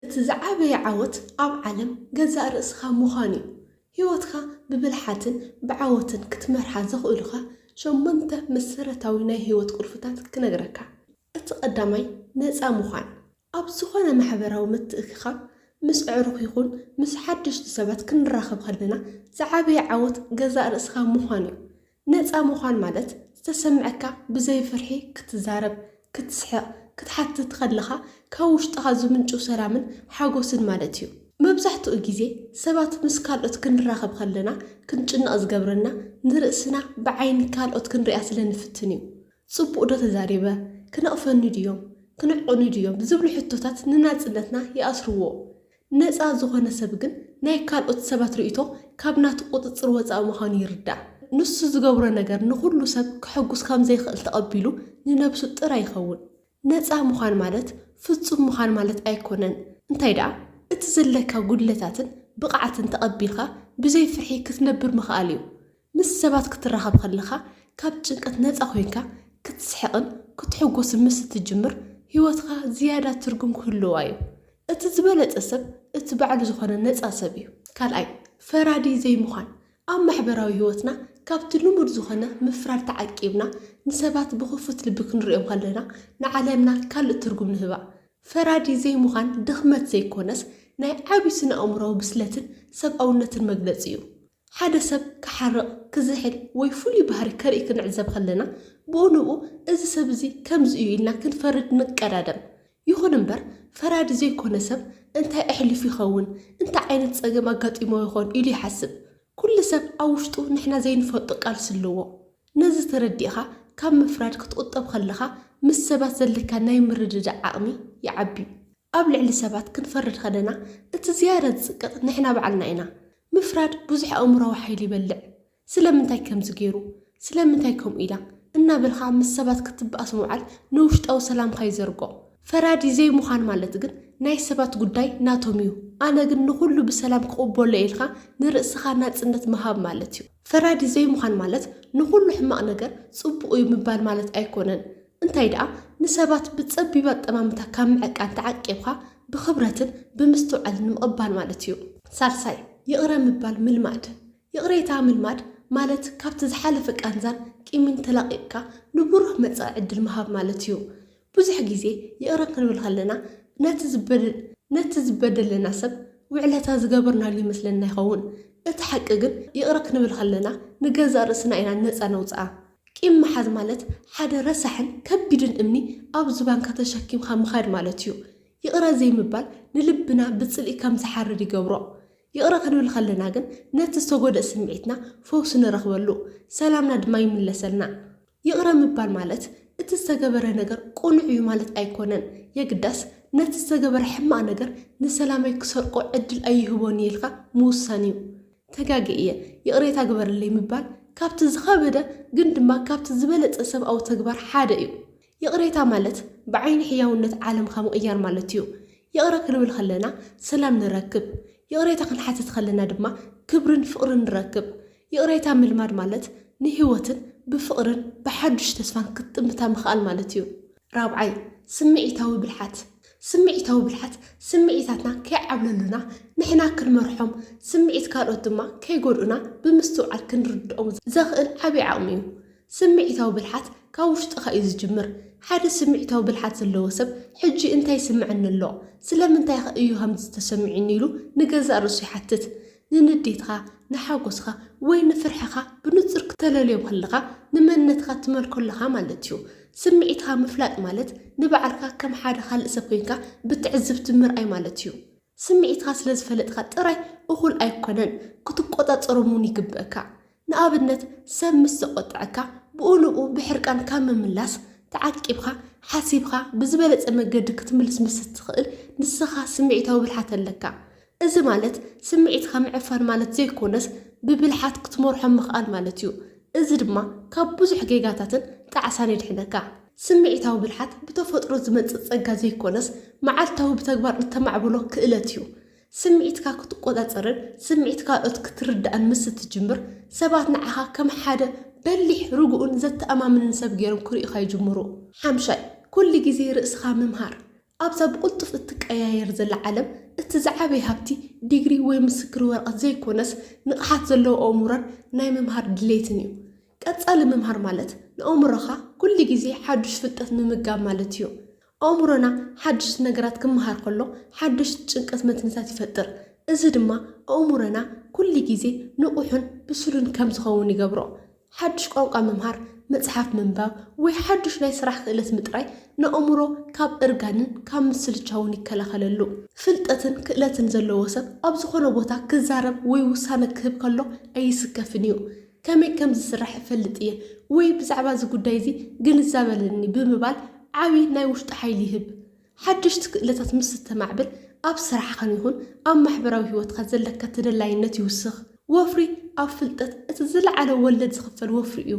እቲ ዝዓበየ ዓወት ኣብ ዓለም ገዛእ ርእስኻ ምዃን እዩ። ህይወትካ ብብልሓትን ብዓወትን ክትመርሓ ዘኽእሉኻ ሸሞንተ መሰረታዊ ናይ ህይወት ቁልፍታት ክነግረካ። እቲ ቀዳማይ ነጻ ምዃን። ኣብ ዝኾነ ማሕበራዊ ምትእክካብ ምስ ኣዕሩኽ ይኹን ምስ ሓደሽቲ ሰባት ክንራኸብ ከለና ዝዓበየ ዓወት ገዛእ ርእስኻ ምዃን እዩ። ነጻ ምዃን ማለት ዝተሰምዐካ ብዘይ ፍርሒ ክትዛረብ፣ ክትስሕቕ፣ ክትሓትት ከለኻ ካብ ውሽጥኻ ዝምንጩ ሰላምን ሓጎስን ማለት እዩ። መብዛሕትኡ ግዜ ሰባት ምስ ካልኦት ክንራኸብ ከለና ክንጭነቕ ዝገብረና ንርእስና ብዓይኒ ካልኦት ክንርእያ ስለ ንፍትን እዩ። ጽቡቕ ዶ ተዛሪበ? ክነቕፈኒ ድዮም? ክንዕቑኒ ድዮም? ዝብሉ ሕቶታት ንናጽነትና ይኣስርዎ። ነጻ ዝኾነ ሰብ ግን ናይ ካልኦት ሰባት ርእይቶ ካብ ናቱ ቁጽጽር ወጻኢ ምዃኑ ይርዳእ። ንሱ ዝገብሮ ነገር ንኹሉ ሰብ ከሐጉስ ከም ዘይክእል ተቐቢሉ ንነብሱ ጥራይ ይኸውን። ነጻ ምዃን ማለት ፍጹም ምዃን ማለት ኣይኮነን፣ እንታይ ደኣ እቲ ዘለካ ጉድለታትን ብቕዓትን ተቐቢልካ ብዘይ ፍርሒ ክትነብር ምኽኣል እዩ። ምስ ሰባት ክትራኸብ ከለኻ ካብ ጭንቀት ነጻ ኮይንካ ክትስሕቕን ክትሕጎስን ምስ እትጅምር ህይወትካ ዝያዳ ትርጉም ክህልዋ እዩ። እቲ ዝበለጸ ሰብ እቲ ባዕሉ ዝኾነ ነጻ ሰብ እዩ። ካልኣይ፣ ፈራዲ ዘይምዃን፣ ኣብ ማሕበራዊ ህይወትና ካብቲ ልሙድ ዝኾነ ምፍራድ ተዓቂብና ንሰባት ብኽፉት ልቢ ክንርእዮም ከለና ንዓለምና ካልእ ትርጉም ንህባ። ፈራዲ ዘይምዃን ድኽመት ዘይኮነስ ናይ ዓቢ ስነ-ኣእምሮኣዊ ብስለትን ሰብኣውነትን መግለጺ እዩ። ሓደ ሰብ ክሓርቕ፣ ክዝሕል ወይ ፍሉይ ባህሪ ከርኢ ክንዕዘብ ከለና፣ ብኡ ንብኡ እዚ ሰብ እዚ ከምዚ እዩ ኢልና ክንፈርድ ንቀዳደም። ይኹን እምበር፣ ፈራዲ ዘይኰነ ሰብ እንታይ ኣሕሊፉ ይኸውን፣ እንታይ ዓይነት ጸገም ኣጋጢምዎ ይዀን ኢሉ ይሓስብ። ኵሉ ሰብ ኣብ ውሽጡ ንሕና ዘይንፈልጦ ቃልሲ ኣለዎ። ነዚ ተረዲእካ ካብ ምፍራድ ክትቝጠብ ከለኻ ምስ ሰባት ዘለካ ናይ ምርድዳእ ዓቕሚ ይዓቢ። ኣብ ልዕሊ ሰባት ክንፈርድ ከለና እቲ ዝያዳ ዝጽቅጥ ንሕና ባዕልና ኢና። ምፍራድ ብዙሕ ኣእምሮኣዊ ሓይሊ ይበልዕ። ስለምንታይ ከምዚ ገይሩ? ስለምንታይ ከምኡ ኢላ? እናበልካ ምስ ሰባት ክትበኣስ ምውዓል ንውሽጣዊ ሰላምካ ይዘርጎ። ፈራዲ ዘይምዃን ማለት ግን ናይ ሰባት ጉዳይ ናቶም እዩ ኣነ ግን ንኹሉ ብሰላም ክቕበሎ እየ ኢልካ ንርእስኻ ናጽነት ምሃብ ማለት እዩ። ፈራዲ ዘይምዃን ማለት ንኹሉ ሕማቕ ነገር ጽቡቕ እዩ ምባል ማለት ኣይኮነን። እንታይ ደኣ ንሰባት ብጸቢብ ኣጠማምታ ካብ ምዕቃን ተዓቂብካ ብኽብረትን ብምስትውዓልን ምቕባል ማለት እዩ። ሳልሳይ፣ ይቕረ ምባል ምልማድ። ይቕሬታ ምልማድ ማለት ካብቲ ዝሓለፈ ቃንዛን ቂምን ተላቒቕካ ንብሩህ መጻኢ ዕድል ምሃብ ማለት እዩ። ብዙሕ ግዜ ይቕረ ክንብል ከለና ነቲ ዝበደለና ሰብ ውዕለታ ዝገበርናሉ ይመስለና ይኸውን። እቲ ሓቂ ግን ይቕረ ክንብል ከለና ንገዛእ ርእስና ኢና ነጻ ነውጽኣ። ቂም ምሓዝ ማለት ሓደ ረሳሕን ከቢድን እምኒ ኣብ ዝባንካ ተሸኪምካ ምኻድ ማለት እዩ። ይቕረ ዘይምባል ንልብና ብጽልኢ ከም ዝሓርር ይገብሮ። ይቕረ ክንብል ከለና ግን ነቲ ዝተጎድኣ ስምዒትና ፈውሲ ንረኽበሉ፣ ሰላምና ድማ ይምለሰልና። ይቕረ ምባል ማለት እቲ ዝተገበረ ነገር ቅኑዕ እዩ ማለት ኣይኮነን፣ የግዳስ ነቲ ዝተገበረ ሕማቕ ነገር ንሰላመይ ክሰርቆ ዕድል ኣይህቦን እየ ኢልካ ምውሳን እዩ። ተጋግየ እየ ይቕሬታ ግበርለይ ምባል ካብቲ ዝኸበደ ግን ድማ ካብቲ ዝበለጸ ሰብኣዊ ተግባር ሓደ እዩ። ይቕሬታ ማለት ብዓይኒ ሕያውነት ዓለምካ ምቕያር ማለት እዩ። ይቕረ ክንብል ከለና ሰላም ንረክብ። ይቕሬታ ክንሓትት ከለና ድማ ክብርን ፍቕርን ንረክብ። ይቕሬታ ምልማድ ማለት ንህይወትን ብፍቕርን ብሓዱሽ ተስፋን ክትጥምታ ምኽኣል ማለት እዩ። ራብዓይ፣ ስምዒታዊ ብልሓት፣ ስምዒታዊ ብልሓት ስምዒታትና ከይዓብለሉና ንሕና ክንመርሖም፣ ስምዒት ካልኦት ድማ ከይጎድኡና ብምስትውዓል ክንርድኦም ዘኽእል ዓቢ ዓቕሚ እዩ። ስምዒታዊ ብልሓት ካብ ውሽጥኻ እዩ ዝጅምር። ሓደ ስምዒታዊ ብልሓት ዘለዎ ሰብ ሕጂ እንታይ ይስምዐኒ ኣሎ? ስለምንታይኸ እዩ ከምዚ ተሰሚዑኒ ኢሉ ንገዛእ ርእሱ ይሓትት። ንንዴትኻ፣ ንሓጎስኻ ወይ ንፍርሕኻ ብንጹር ክተለልዮም ከለኻ ንመንነትካ ትመልኮ ኣለኻ ማለት እዩ። ስምዒትኻ ምፍላጥ ማለት ንባዕልካ ከም ሓደ ካልእ ሰብ ኮይንካ ብትዕዝብቲ ምርኣይ ማለት እዩ። ስምዒትካ ስለ ዝፈለጥካ ጥራይ እኹል ኣይኮነን ክትቆጻጸሮም እውን ይግበእካ። ንኣብነት ሰብ ምስ ዘቖጠዐካ ብኡ ንብኡ ብሕርቃን ካብ ምምላስ ተዓቂብካ ሓሲብካ ብዝበለጸ መገዲ ክትምልስ ምስ እትኽእል ንስኻ ስምዒታዊ ብልሓት ኣለካ። እዚ ማለት ስምዒትካ ምዕፋን ማለት ዘይኮነስ ብብልሓት ክትመርሖ ምኽኣል ማለት እዩ። እዚ ድማ ካብ ብዙሕ ጌጋታትን ጣዕሳን የድሕነካ። ስምዒታዊ ብልሓት ብተፈጥሮ ዝመጽእ ጸጋ ዘይኮነስ መዓልታዊ ብተግባር እተማዕብሎ ክእለት እዩ። ስምዒትካ ክትቆጻጸርን ስምዒት ካልኦት ክትርዳእን ምስ እትጅምር፣ ሰባት ንዓኻ ከም ሓደ በሊሕ፣ ርጉእን ዘተኣማምንን ሰብ ገይሮም ክርእዩኻ ይጅምሩ። ሓምሻይ፣ ኩሉ ግዜ ርእስኻ ምምሃር። ኣብዛ ብቕልጡፍ እትቀያየር ዘላ ዓለም፣ እቲ ዝዓበየ ሃብቲ፣ ዲግሪ ወይ ምስክር ወረቐት ዘይኮነስ፣ ንቕሓት ዘለዎ ኣእምሮን ናይ ምምሃር ድሌትን እዩ። ቀጻሊ ምምሃር ማለት፣ ንኣእምሮኻ ኩሉ ግዜ ሓዱሽ ፍልጠት ምምጋብ ማለት እዩ። ኣእምሮና ሓድሽቲ ነገራት ክመሃር ከሎ ሓድሽ ጭንቀት መትንታት ይፈጥር፣ እዚ ድማ ኣእምሮና ኩሉ ግዜ ንቑሕን ብሱልን ከም ዝኸውን ይገብሮ። ሓድሽ ቋንቋ ምምሃር፣ መጽሓፍ ምንባብ፣ ወይ ሓድሽ ናይ ስራሕ ክእለት ምጥራይ ንኣእምሮ ካብ እርጋንን ካብ ምስልቻውን ይከላኸለሉ። ፍልጠትን ክእለትን ዘለዎ ሰብ ኣብ ዝዀነ ቦታ ክዛረብ ወይ ውሳነ ክህብ ከሎ ኣይስከፍን እዩ። ከመይ ከም ዝስራሕ እፈልጥ እየ ወይ ብዛዕባ እዚ ጉዳይ እዚ ግንዛበ ኣለኒ ብምባል ዓቢ ናይ ውሽጢ ሓይሊ ይህብ። ሓደሽቲ ክእለታት ምስ እተማዕብል ኣብ ስራሕኻን ይኹን ኣብ ማሕበራዊ ህይወትካ ዘለካ ተደላይነት ይውስኽ። ወፍሪ ኣብ ፍልጠት እቲ ዝለዓለ ወለድ ዝኽፈል ወፍሪ እዩ።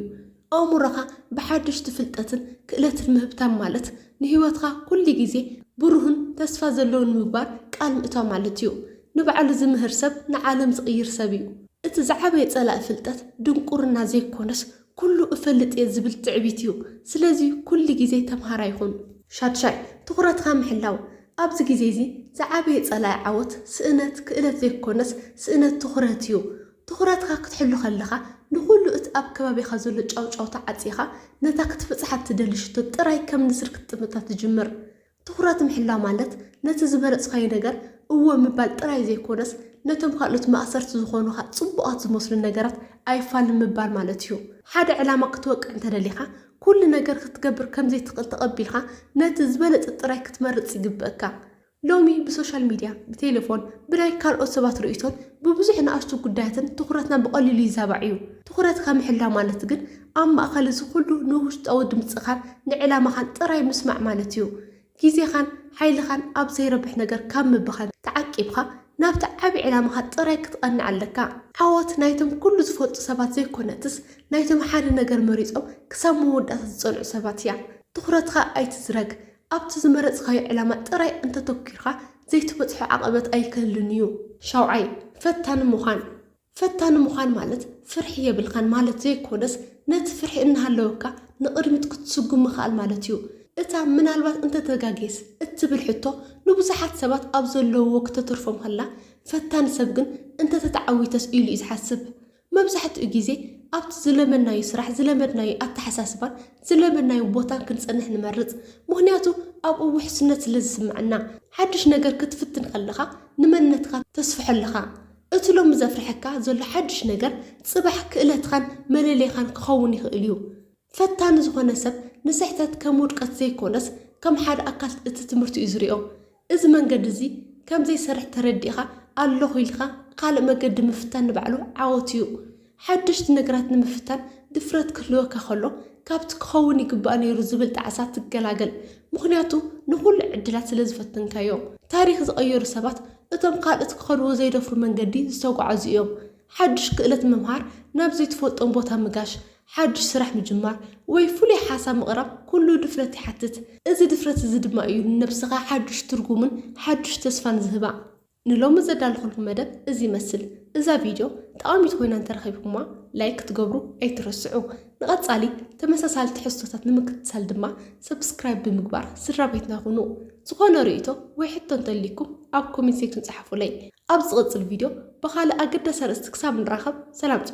ኣእምሮኻ ብሓደሽቲ ፍልጠትን ክእለትን ምህብታም ማለት ንህይወትካ ኩሉ ግዜ ብሩህን ተስፋ ዘለዎን ንምግባር ቃል ምእታው ማለት እዩ። ንባዕሉ ዝምህር ሰብ ንዓለም ዝቕይር ሰብ እዩ። እቲ ዝዓበየ ጸላኢ ፍልጠት ድንቁርና ዘይኮነስ ኩሉ እፈልጥ እየ ዝብል ትዕቢት እዩ። ስለዚ ኩሉ ግዜ ተምሃራይ ኹን። ሻድሻይ፣ ትኹረትካ ምሕላው። ኣብዚ ግዜ እዚ ዝዓበየ ጸላኢ ዓወት ስእነት ክእለት ዘይኮነስ ስእነት ትኹረት እዩ። ትኹረትካ ክትሕሉ ከለኻ ንኹሉ እቲ ኣብ ከባቢኻ ዘሎ ጫውጫውታ ዓጺኻ ነታ ክትብጽሓ እትደሊ ሽቶ ጥራይ ከም ንስር ክትጥምታ ትጅምር። ትኹረት ምሕላው ማለት ነቲ ዝመረጽካዮ ነገር እወ ምባል ጥራይ ዘይኮነስ፣ ነቶም ካልኦት ማእሰርቲ ዝኾኑኻ ጽቡቓት ዝመስሉ ነገራት ኣይፋልን ምባል ማለት እዩ። ሓደ ዕላማ ክትወቅዕ እንተደሊኻ፣ ኩሉ ነገር ክትገብር ከም ዘይትኽእል ተቐቢልካ ነቲ ዝበለጸ ጥራይ ክትመርጽ ይግበእካ። ሎሚ ብሶሻል ሚድያ፣ ብቴለፎን፣ ብናይ ካልኦት ሰባት ርእይቶን ብብዙሕ ንኣሽቱ ጉዳያትን ትኹረትና ብቐሊሉ ይዛባዕ እዩ። ትኹረትካ ምሕላው ማለት ግን ኣብ ማእከል እዚ ኹሉ ንውሽጣዊ ድምጽኻን ንዕላማኻን ጥራይ ምስማዕ ማለት እዩ። ግዜኻን ሓይልኻን ኣብ ዘይረብሕ ነገር ካብ ምብኻን ተዓቂብካ ናብቲ ዓቢ ዕላማኻ ጥራይ ክትቐንዕ ኣለካ። ዓወት ናይቶም ኩሉ ዝፈልጡ ሰባት ዘይኮነትስ ናይቶም ሓደ ነገር መሪጾም ክሳብ መወዳእታ ዝጸንዑ ሰባት እያ። ትኹረትካ ኣይትዝረግ። ኣብቲ ዝመረጽካዮ ዕላማ ጥራይ እንተ ኣተኲርካ፣ ዘይትበጽሖ ዓቐበት ኣይክህሉን እዩ። ሻውዓይ፣ ፈታኒ ምዃን። ፈታኒ ምዃን ማለት ፍርሒ የብልካን ማለት ዘይኰነስ፣ ነቲ ፍርሒ እናሃለወካ ንቕድሚት ክትስጕም ምኽኣል ማለት እዩ። እታ ምናልባት እንተ ተጋግየስ? እትብል ሕቶ ንብዙሓት ሰባት ኣብ ዘለዉዎ ክተትርፎም ከላ፣ ፈታኒ ሰብ ግን እንተ ተተዓዊተስ ኢሉ እዩ ዝሓስብ። መብዛሕትኡ ግዜ ኣብቲ ዝለመድናዩ ስራሕ፣ ዝለመድናዩ ኣተሓሳስባን ዝለመድናዩ ቦታን ክንጸንሕ ንመርጽ። ምኽንያቱ ኣብኡ ውሕስነት ስለ ዝስምዐና። ሓድሽ ነገር ክትፍትን ከለኻ ንመንነትካ ተስፍሖ ኣለኻ። እቲ ሎሚ ዘፍርሐካ ዘሎ ሓድሽ ነገር ጽባሕ ክእለትኻን መለለይኻን ክኸውን ይኽእልዩ። ፈታኒ ዝኾነ ሰብ ንስሕተት ከም ውድቀት ዘይኮነስ ከም ሓደ ኣካል እቲ ትምህርቲ እዩ ዝሪኦ። እዚ መንገዲ እዚ ከም ዘይሰርሕ ተረዲእኻ ኣለኹ ኢልካ ኻልእ መገዲ ምፍታን ንባዕሉ ዓወት እዩ። ሓደሽቲ ነገራት ንምፍታን ድፍረት ክህልወካ ኸሎ ካብቲ ክኸውን ይግባእ ነይሩ ዝብል ጣዕሳ ትገላገል። ምኽንያቱ ንኹሉ ዕድላት ስለ ዝፈተንካዮ። ታሪኽ ዝቐየሩ ሰባት እቶም ካልኦት ክኸድዎ ዘይደፍሩ መንገዲ ዝተጓዓዙ እዮም። ሓዱሽ ክእለት ምምሃር ናብ ዘይትፈልጦም ቦታ ምጋሽ ሓድሽ ስራሕ ምጅማር ወይ ፍሉይ ሓሳብ ምቕራብ ኩሉ ድፍረት ይሓትት። እዚ ድፍረት እዚ ድማ እዩ ንነብስኻ ሓድሽ ትርጉምን ሓድሽ ተስፋን ዝህባ። ንሎሚ ዘዳለኹልኩም መደብ እዚ ይመስል። እዛ ቪድዮ ጠቓሚት ኮይና እንተረኺብኩማ ላይክ ክትገብሩ ኣይትረስዑ። ንቐጻሊ ተመሳሳሊ ትሕዝቶታት ንምክትታል ድማ ሰብስክራይብ ብምግባር ስድራቤትና ኩኑ። ዝኾነ ርእይቶ ወይ ሕቶ እንተልይኩም ኣብ ኮሜንት ሴክሽን ጸሓፉለይ። ኣብ ዝቕጽል ቪድዮ ብኻልእ ኣገዳሲ ኣርእስቲ ክሳብ ንራኸብ ሰላም ጽንሑ።